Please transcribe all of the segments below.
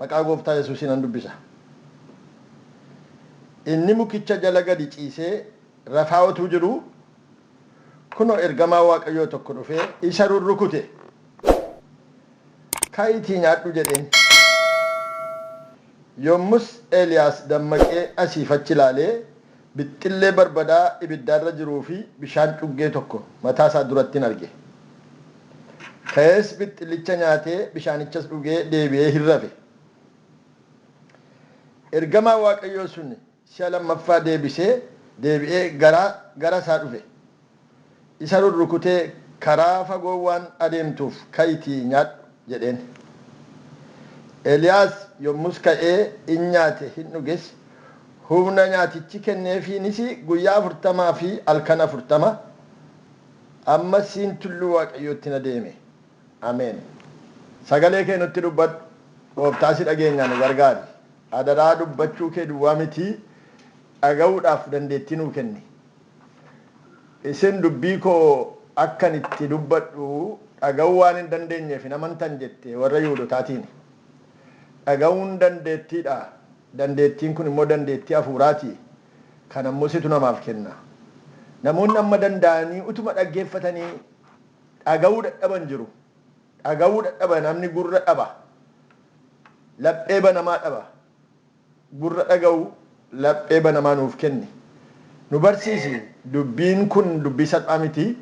Maqaa Gooftaa Yesuusiin nan dubbisa. Inni mukicha jala gadi ciisee rafaa utuu jiruu, kunoo ergamaan Waaqayyoo tokko dhufee isa rurrukute. Ka'iitii nyaadhu jedheen. Yommus Eeliyaas dammaqee asii fi achi ilaalee, Bixxillee barbadaa ibidda irra jiruu fi bishaan cuggee tokko mataa isaa durattin arge. Ka'ees bixxillicha nyaatee bishaanichas dhugee deebi'ee hin rafe. Ergamaan Waaqayyoo sun si'a lammaffaa deebisee deebi'ee gara gara isaa dhufe. Isa rurrukutee karaa fagoo waan adeemtuuf ka'itii nyaadhu! jedheen. Eliyaas yommus ka'ee in nyaate hin dhuges, humna nyaatichi kenneefiinis guyyaa afurtamaa fi halkan afurtama amma siin tulluu Waaqayyootti in adeeme. Ameen! Sagalee kee nutti dubbadhu, Gooftaa si dhageenyaa nu gargaari. Adaraa dubbachuu kee duwwaa mitii dhaga'uudhaaf dandeettii nuu kenni. Isin dubbii koo akkan itti dubbadhu dhaga'uu waan hin dandeenyeef hin amantan jette, warra Yihudotaatiin. Dhaga'uun dandeettii dha, dandeettiin kun immoo dandeettii hafuuraa ti, kana immoo situ namaaf kenna. Namoonni amma danda'anii utuma dhaggeeffatanii dhaga'uu dadhaban jiru. Dhaga'uu dadhaba, namni gurra dhaba, laphee banamaa dhaba. gurra dhaga'u, laphee banamaa nuuf kenni. Nu barsiisi, dubbiin kun dubbii salphaa miti.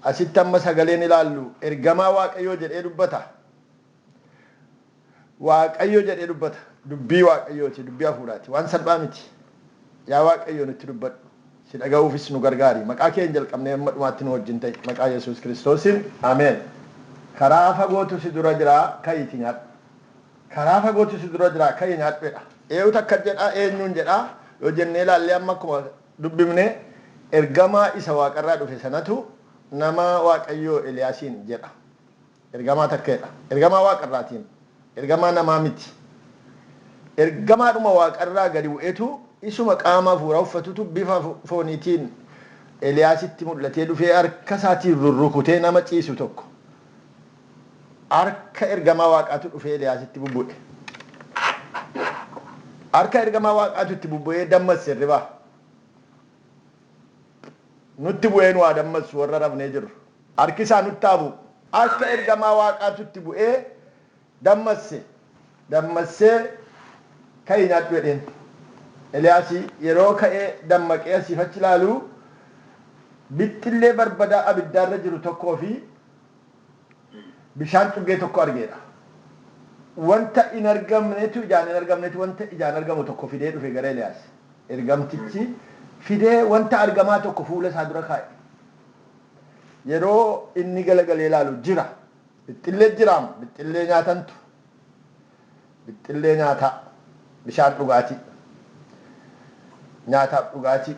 Asitti amma sagaleen ilaallu ergamaa Waaqayyoo jedhee dubbata. Waaqayyo jedhee dubbata. Dubbii Waaqayyooti, dubbii hafuuraati. Waan salphaa miti. Yaa Waaqayyo nutti dubbadhu. Si dhaga'uufis nu gargaari. Maqaa keen jalqabnee amma dhumaatti nu wajjin ta'i. Maqaa Yesuus Kiristoosiin. Ameen. Karaa fagootu si dura jira, ka'iitii nyaadhu. Karaa fagootu si dura jira, ka'i nyaadhu jedha. Eewutu akkas jedhaa? Eenyuun jedhaa? Yoo jennee ilaallee amma akkuma dubbifne ergamaa isa waaqarraa dhufe sanatu nama Waaqayyoo Eliyaasiin jedha. Ergamaa takkeedha. Ergamaa waaqarraatiin. Ergamaa namaa miti. Ergamaadhuma waaqarraa gadi bu'etu isuma qaama hafuuraa uffatutu bifa fooniitiin Eliyaasitti mul'atee dhufee harkasaatiin rurrukutee nama ciisu tokko. Harka ergamaa Waaqaatu dhufee Eliyaasitti bubbu'e. Harka ergamaa Waaqaatu itti bubbu'ee dammassi hirribaa. Nutti bu'ee nu haa dammassu warra rafnee jirru. Harki isaa nutti haa bu'u. Harka ergamaa Waaqaatu itti bu'ee dammasse. Dammassee ka'ii nyaadhu jedheen. Eliyaasi yeroo ka'ee dammaqee asiif achi ilaalu bixxillee barbadaa abiddaarra jiru tokkoo fi bishaan cuggee tokko argeedha. Wanta hin argamnetu ijaan hin argamnetu wanta ijaan argamu tokko fidee dhufe gara Eliyaas. Ergamtichi fidee wanta argamaa tokko fuula isaa dura kaa'e. Yeroo inni galagalee ilaalu jira. Bixxillee jiraam. Bixxillee nyaatantu. Bixxillee nyaataa, bishaan dhugaatii, nyaataaf dhugaatii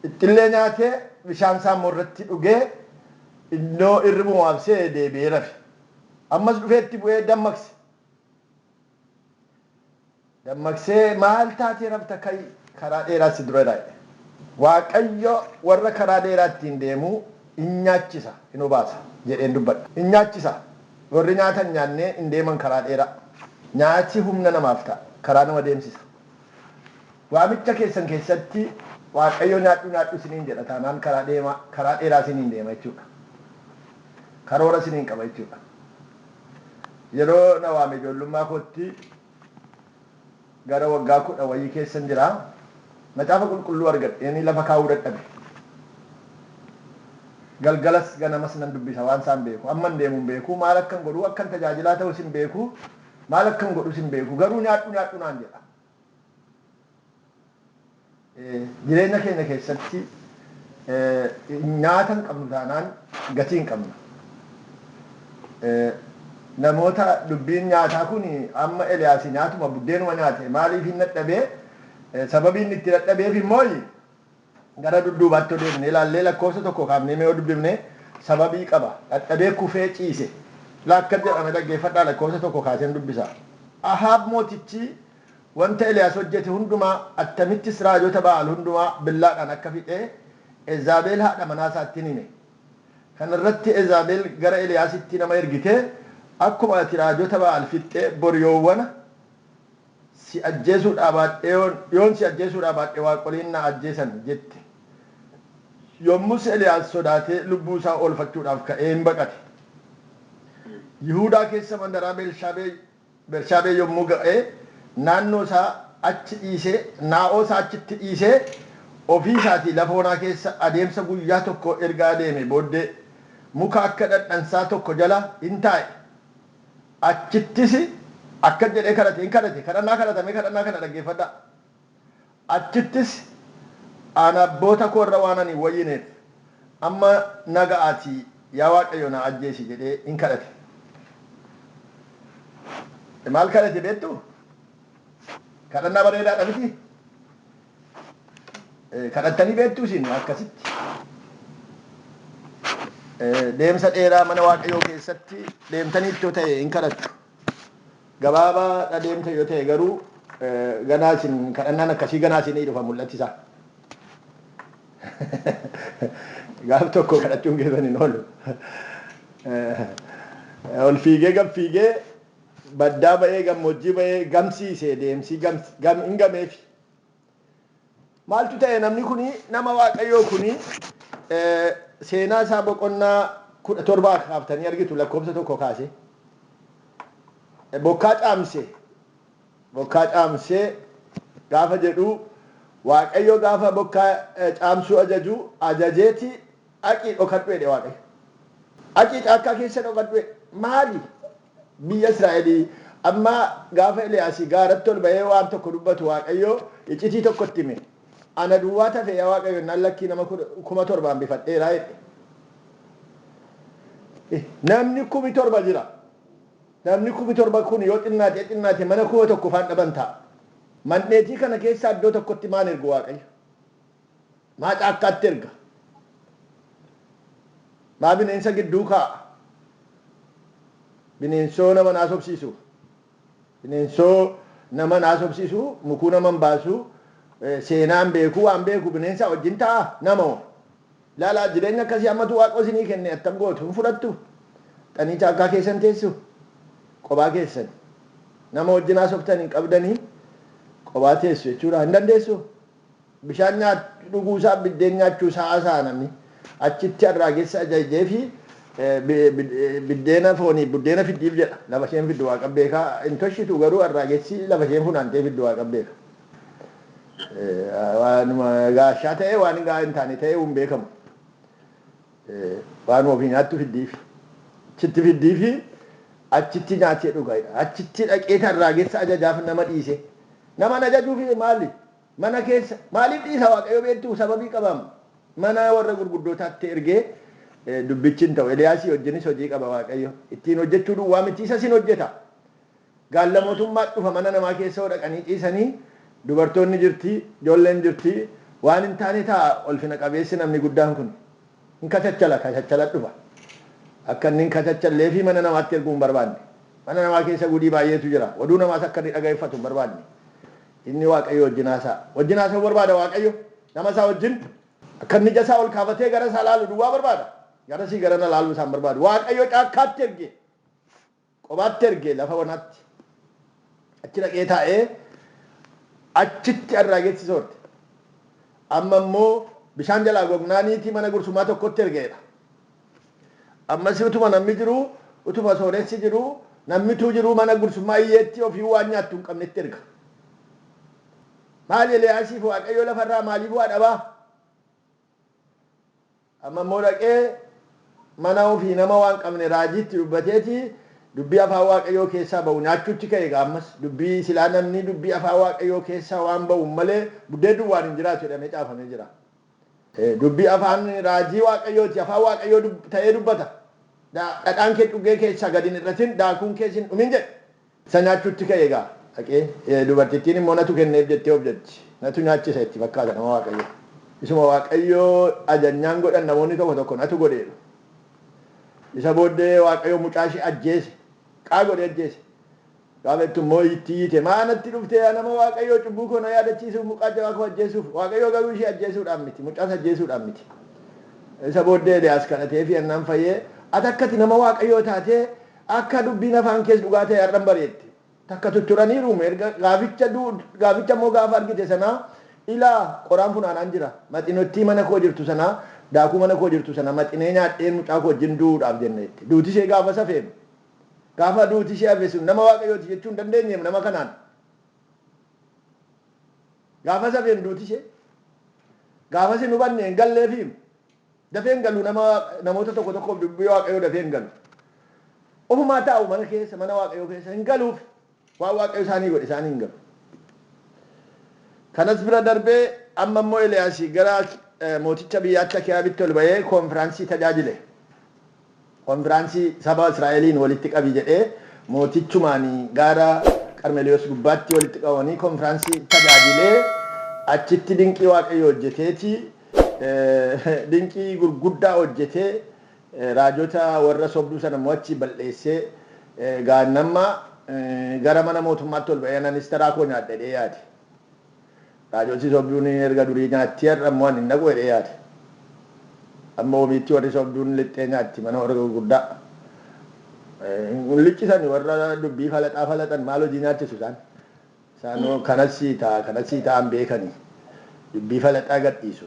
Bixxillee nyaatee bishaan isaa immoo irratti dhugee innoo irribuma of se'e deebi'ee rafe. Ammas dhufee itti bu'ee dammaqse. Dammaqsee maal taatee rafta ka'i karaa dheeraa si dura raa'e. Waaqayyo warra karaa dheeraa ittiin deemu in nyaachisa, in obaasa jedheen dubbadha. In nyaachisa. Warri nyaata hin nyaannee in deeman karaa dheeraa. Nyaati humna namaaf ta'a. Karaa nama deemsisa. Waamicha keessan keessatti Waaqayyo nyaadhu nyaadhu isiniin jedha taanaan karaa deemaa, karaa dheeraa isiniin deema jechuudha. Karoora isiniin qaba jechuudha. Yeroo na waame ijoollummaa kootti Gara waggaa kudha wayii keessan jira. Macaafa Qulqulluu argadheenii lafa kaa'uu dadhabe. Galgalas ganamas nan dubbisa waan isaan beeku. Amman deemu hin beeku, maal akkan godhu, akkan tajaajilaa ta'us hin beeku, maal akkan godhus hin beeku. Garuu nyaadhu nyaadhu naan jedha. Jireenya keenya keessatti nyaata hin qabnu taanaan gatii hin qabnu. Namoota dubbiin nyaataa kun amma Eliyaas nyaatuma buddeenuma nyaate maaliif hin dadhabee sababii inni itti dadhabeef immoo Gara dudduubaatti yoo deebinee ilaallee lakkoofsa tokkoo kaafnee mee yoo dubbifne sababii qaba. Dhadhabee kufee ciise. Ilaa akkas jedha mee dhaggeeffadhaa lakkoofsa tokko kaaseen dubbisa. Ahaab mootichi wanta Eliyaas hojjete hundumaa attamittis raajota Ba'aal hundumaa billaadhaan akka fixe Ezaabeel haadha manaa isaatti in hime. Kana irratti Ezaabeel gara Eliyaasitti nama ergitee akkuma ati raajota Ba'aal fixxe bor yoowwana, Si ajjeesuu dhaabaadheyoon yoon si ajjeesuu dhaabaadhe waaqoliin na ajjeesan jette. Yommus Eliyaas sodaatee lubbuu isaa oolfachuudhaaf ka'ee in baqate. Yihuudaa keessa mandaraa Beershaabee Bershaabee yommuu ga'e naannoo isaa achi dhiisee naa'oo isaa achitti dhiisee ofii isaatii lafa onaa keessa adeemsa guyyaa tokkoo erga adeemee booddee muka akka dhadhansaa tokko jala in taa'e. Achittis akkas jedhee kadhate, in kadhate, kadhannaa kadhata, mee kadhannaa kana dhaggeeffadhaa. Achittis, An abboota koo irra waanan hin wayyineef, amma na ga'aatii yaa Waaqayyo na ajjeesi jedhee in kadhate. Maal kadhate beektuu? Kadhannaa bareedaadha mitii? Kadhattanii beektuu isin akkasitti? Deemsa dheeraa mana Waaqayyoo keessatti deemtaniitti yoo ta'e hin kadhattu. Gabaabaadha deemta yoo ta'e garuu ganaa isin kadhannaan akkasii ganaa isinii dhufa mul'atti isaa. Gaaf tokko kadhachuun keessan hin oolu. Ol fiigee gad fiigee baddaa ba'ee gammoojjii ba'ee gamsiisee deemsii hin gameefi. Maaltu ta'e namni kuni nama waaqayyoo kuni seenaa isaa boqonnaa kudha torba kaaftanii argitu lakkoofsa tokko kaase bokkaa caamse bokkaa caamse gaafa jedhu waaqayyo gaafa bokkaa caamsuu ajaju ajajeeti dhaqii dhokadhu jedhe waaqayyo dhaqii caakkaa keessa dhokadhu jedhe maali Biyya Israa'elii. Amma gaafa Eliyaasi gaaratti ol ba'ee waan tokko dubbatu Waaqayyo iccitii tokko itti hime. Ana duwwaatu hafe yaa Waaqayyo jennaan lakkii nama kuma torba hambifadheera jedhe. Namni kumi torba jira. Namni kumi torba kun yoo xinnaatee xinnaate mana kuma tokko faan dhaban ta'a. Mandheetii kana keessaa iddoo tokkotti maan ergu Waaqayyo? Maa caakkaatti erga? Maa bineensa gidduu kaa'a? Bineensoo nama hin haasofsiisu. Bineensoo nama hin haasofsiisu, mukuu nama hin baasu, seenaa hin beeku, waan beeku bineensaa wajjin ta'a? Nama hoo? Ilaalaa jireenya akkasii hammatu Waaqoo isinii kenne attam gootu? Hin fudhattu? Dhaqxanii caakkaa keessa hin teessu? Qophaa keessan. Nama wajjin haasoftan hin qabdanii qophaa teessu jechuudha. Hin dandeessu? Bishaan nyaachuu dhuguu isaa, biddeen nyaachuu isaa haasa'a namni. Achitti arraagessi ajajjee fi biddeena fooniif buddeena fiddiif jedha. Lafa isheen fiddu Waaqan beeka. Hin toshitu garuu arraagessi lafa isheen funaantee fiddu Waaqan beeka. Waanuma gaashaa ta'ee waan gahaa hin taane ta'ee hin beekamu. Waan ofii nyaattu fiddiifi. Achitti fiddiifi achitti nyaatee dhuga. Achitti dhaqee kan raagessa ajajaaf nama dhiise. Naman ajajuuf maali? Mana keessa. Maaliif dhiisa Waaqayyo beektuu? Sababii qabaam. Mana warra gurguddootaatti ergee dubbichi hin ta'u. Eliyaasii wajjinis hojii qaba Waaqayyo. Ittiin hojjechuu duwwaa miti isas hin hojjeta. Gaalla motummaat dhufa mana namaa keessa yoo dhaqanii ciisanii dubartoonni jirti ijoolleen jirti waan hin taane taa'a olfina qabeessi namni guddaan kun hin kachachala kachachala dhufa akka inni hin kachachalleefi mana namaatti erguu hin barbaanne mana namaa keessa gudii baay'eetu jira oduu namaas akka inni dhaga'effatu hin barbaanne inni waaqayyo wajjin haasa'a wajjin haasa'uu barbaada waaqayyo nama isaa wajjin akka inni ija isaa ol kaafatee gara isaa laalu duwwaa barbaada garasii garana laaluu isaa hin barbaadu waaqayyo caakkaatti erge Qobaatti erge lafa wanaatti. Achi dhaqee taa'ee achitti arraagetti soorte. Amma immoo bishaan jalaa gognaaniiti mana gursumaa tokkotti erge jedha. Ammas utuma namni jiruu, utuma sooressi jiruu, namni utuu jiruu mana gursummaa iyyeetti ofii waan nyaattu hin qabnetti erga. Maali Eliyaasiif Waaqayyo lafa irraa maaliif waa dhabaa? Amma immoo dhaqee mana ofii nama waan qabne raajiitti dubbateeti dubbii afaan Waaqayyoo keessaa ba'u nyaachuutti ka'e egaa ammas dubbii silaa namni dubbii afaan Waaqayyoo keessaa waan ba'uun malee buddeen duwwaan hin jiraatu jedhamee caafamee jira. Dubbii afaan raajii Waaqayyooti afaan Waaqayyoo ta'ee dubbata. Dhadhaan kee cuggee keessaa gad hin hir'atin daakuun kees hin dhumin jedhe. Isa nyaachuutti ka'e egaa. Dhaqee, dubartittiin immoo natu kenneef jettee of jajji. Natu nyaachisa itti fakkaata nama Waaqayyoo. Isuma Waaqayyoo ajajnaan godhan namoonni tokko tokko natu godhe jedhu. Isa booddee Waaqayyo mucaa ishee ajjeese. Qaa godhee ajjeese. Gaafa jettu immoo itti iyyite maa natti dhufte yaa nama Waaqayyoo cubbuu koo na yaadachiisuuf mucaa jabaa koo ajjeesuuf. Waaqayyoo garuu ishee ajjeesuudhaaf miti. Mucaas ajjeesuudhaaf miti. Isa booddee Eliyaas kadhateefii ennaan fayyee ati akka ati nama Waaqayyoo taatee Akka dubbiin afaan kees dhugaa ta'e har'an bareette. Takka tutturaniiruum erga gaaficha gaaficha immoo gaafa argite sanaa ilaa qoraan funaanaan jira. Maxinottii mana koo jirtu sanaa daakuu mana koo jirtu sana maxinee nyaadheen mucaa koo wajjin du'uudhaaf jenna jette. Duuti ishee gaafas hafeem. Gaafa duuti ishee hafe sun nama Waaqayyooti jechuu hin dandeenyeem nama kanaan. Gaafas hafeem duuti ishee. Gaafas hin hubanne hin galleefiim. Dafee hin galu nama namoota tokko tokkoof dubbii waaqayyoo dafee hin galu. Ofumaa taa'u mana keessa mana waaqayyoo keessa hin galuuf waan waaqayyo isaanii godhe isaanii hin galu. Kanas bira darbee amma immoo Eliyaas gara mooticha biyyaatti Akiyaabitti ol ba'ee koonfiraansii tajaajile. Konfiraansii saba Israa'eliin walitti qabi jedhee mootichumaan gaara Qarmeliyoos gubbaatti walitti qabamanii konfiraansii tajaajilee achitti dinqii Waaqayyo hojjeteeti dinqii gurguddaa hojjetee raajota warra sobduu sana immoo achii bal'eessee gaannamma gara mana mootummaatti ol ba'ee anan istaraa koo nyaadha jedhee yaade. Raajolti sobduun erga durii nyaatti har'a immoo ani hin dhaqu jedhee yaade. Amma omiitti warri sobduun lixxee nyaatti mana warra gurguddaa. Hin liccisani warra dubbii falaxaa falaxan maal hojii nyaachisu isaan. Isaan kanas sii ta'a kanas sii ta'an beekani dubbii falaxaa gadhiisu.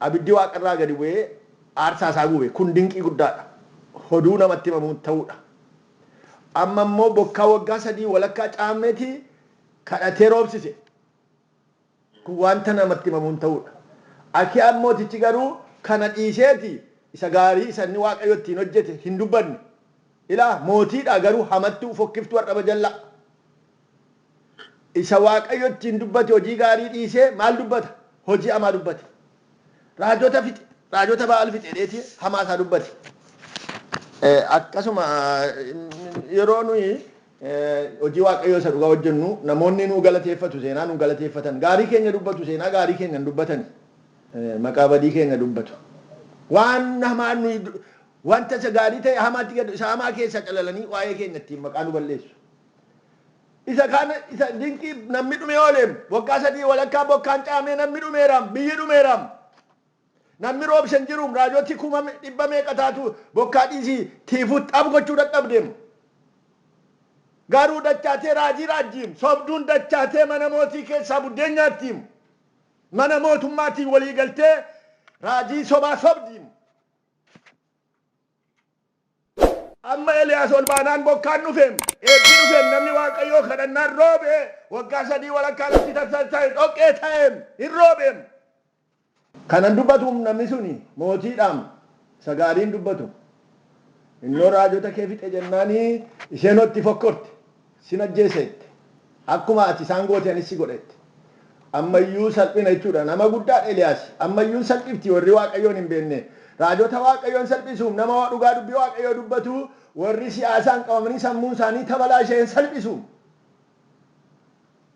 Abiddi waaqa irraa gadi bu'ee aarsaa isaa gube. Kun dinqii guddaa dha. Hoduu namatti himamuun ta'uu dha. Amma immoo bokkaa waggaa sadii walakkaa Caammeetii kadhatee roobsise. Kun wanta namatti himamuun ta'uu dha. Akiyaan mootichi garuu kana dhiiseeti isa gaarii isa inni Waaqayyo ittiin hojjete hin dubbanne. Ilaa, mootii dha, garuu hamattuu, fokkiftuu, ar'aba jallaa. Isa Waaqayyo ittiin dubbate hojii gaarii dhiisee maal dubbata? Hojii hamaa dubbate. Raajota fixe. Raajota Ba'aal fixe jedheeti hamaa isaa dubbate. Akkasuma yeroo nuyi hojii Waaqayyoo isa dhugaa hojjennu namoonni nu galateeffatu seenaa nu galateeffatan. Gaarii keenya dubbatu seenaa gaarii keenya hin dubbatani. Maqaa badii keenya dubbatu. Waan hamaa nuyi wanta isa gaarii ta'e hamaatti gad isa hamaa keessaa calalanii waa'ee keenya ittiin maqaa nu balleessu. Isa kaan isa dinqii namni dhumee ooleem. Waggaa sadii walakkaa bokkaan caamee namni dhumeeraam. Biyyi dhumeeraam. Namni roobsen jiruum. Raajoti kuma me- dhibba meeqa taatu bokkaa dhiisii tiifuu xab gochuu dadhabdeem. Garuu dachaatee raajii raajjiim. Sobduun dachaatee mana mootii keessaa buddeen nyaattiim. Mana mootummaatiin walii galtee raajii sobaa sobdiim. Amma Eliyaas ol baanaan bokkaan dhufeem, eebbi dhufeem, namni Waaqayyoo kadhannaan roobee, waggaa sadii walakkaa lafti tarsa'e, dhoqqee ta'eem, hin roobeem. Kanan dubbatuum namni suni mootiidhaam, isa gaariin dubbatu. Innoo raajota kee fixe jennaani isheenoo itti fokkorte. Sin ajjeesa jette. Akkuma ati isaan goote anis si godha jette. Amma iyyuu salphina jechuu dha. Nama guddaa dha Eliyaas. Amma iyyuu hin salphifti. Warri Waaqayyoon hin beekne raajota Waaqayyoo hin salphisu. Nama dhugaa dubbii Waaqayyoo dubbatu warri siyaasaan qabamanii sammuun isaanii tabalaashe hin salphisu.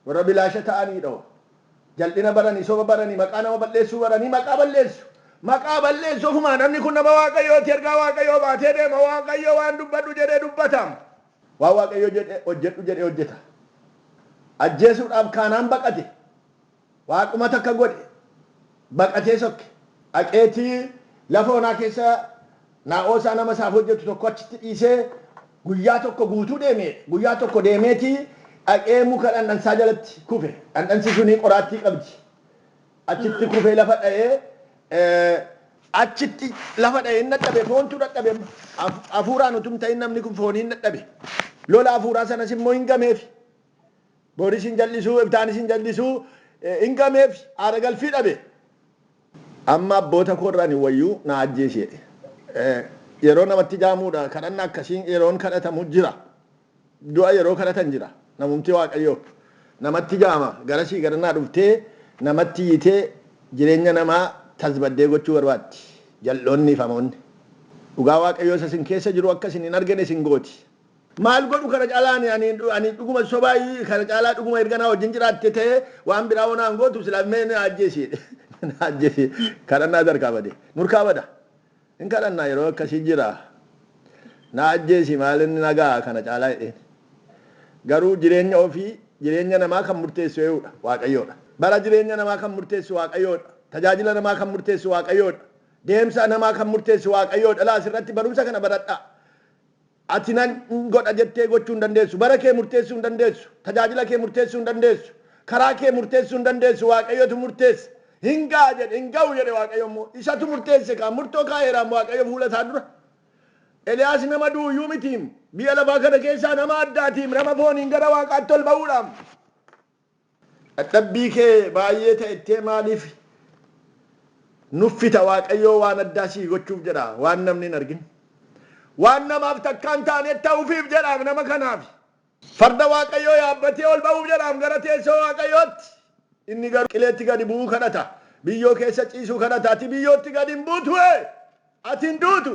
Warra bilaasha ta'anii dha. Jal'ina baranii, soba baranii, maqaa nama balleessuu baranii maqaa balleessu. Maqaa balleessu ofuma. Namni kun nama Waaqayyoo ti. Ergaa Waaqayyoo baatee deema. Waaqayyo waan dubbadhu jedhe dubbata. Waan Waaqayyo jedhe hojjedhu jedhe hojjeta. Ajjeesuudhaaf kaanaan baqate. Waaquma takka godhe. Baqatee sokke. Dhaqeetii lafa onaa keessa naa'oosaa nama isaaf hojjetu tokko achitti dhiisee guyyaa tokko guutuu deeme. Guyyaa tokko deemeetii dhaqee muka dhandhansaa jalatti kufe. Dhandhansi suni qoraattii qabdi. Achitti kufee lafa dha'e, ee. Achitti lafa dha'e, hin dadhabe, foontu dadhabe amma. Haf, hafuuraan utuu hin ta'in namni kun fooniin dadhabe. Lola hafuuraa sanas immoo hin gameefi. Booris hin jal'isuu, iftaanis hin jal'isuu, ee, hin gameefi. Aara galfii dhabe. Amma abboota koo irra ani wayyu na ajjeesi jedhe. Ee, yeroo namatti jaamuudha, kadhanna akkasiin yeroon kadhatamu jira. Du'a yeroo kadhatan jira. Namumti Waaqayyoo namatti gaama garasii garanaa dhuftee namatti iyyitee jireenya namaa tasbaddee gochuu barbaaddi. Jal'oonniif hamoonni. Dhugaa Waaqayyoo isa isin keessa jiru akka isin hin argine isin gooti. Maal godhu kana caalaa ani ani ani dhuguma sobaa kana caalaa dhuguma erga naa wajjin jiraatte ta'e waan biraa hoo naan gootu silaa mee na ajjeesi jedhe. Na ajjeesi kadhannaa harkaa bade. Nurkaa bada. Hin kadhanna yeroo akkasii jira. Na ajjeesi maal inni na ga'a kana caalaa jedheen. Garuu jireenya ofii jireenya namaa kan murteessu ee'uudha, Waaqayyoodha. Bara jireenya namaa kan murteessu Waaqayyoodha. Tajaajila namaa kan murteessu Waaqayyoodha. Deemsa namaa kan murteessu Waaqayyoodha. Ilaa asirratti barumsa kana baradhaa. Ati nan godha jettee gochuu hin dandeessu. Bara kee murteessuu hin dandeessu. Tajaajila kee murteessuu hin dandeessu. Karaa kee murteessuu hin dandeessu. Waaqayyotu murteessa. Hin ga'a jedhe, hin ga'u jedhe Waaqayyo immoo. Isatu murteesse kaa, murtoo kaa'eeraam Waaqayyo fuula isaa dura. Eliyaas nama du'u iyyuu mitiim. Biyya lafaa kana keessaa nama addaatiim. Nama fooniin gara Waaqaatti ol ba'uudhaam. Dhadhabbii kee baay'ee ta'ettee maaliif nuffita waaqayyoo waan addaa sii gochuuf jedha waan namni hin argin waan namaaf takkaa hin taaneet ta'uufiif jedhaam nama kanaaf farda waaqayyoo yaabbatee ol ba'uuf jedhaam gara teessoo waaqayyootti inni garuu qileetti gadi bu'uu kadhata biyyoo keessa ciisuu kadhata ati biyyootti gadi hin buutuuee ati hin duutu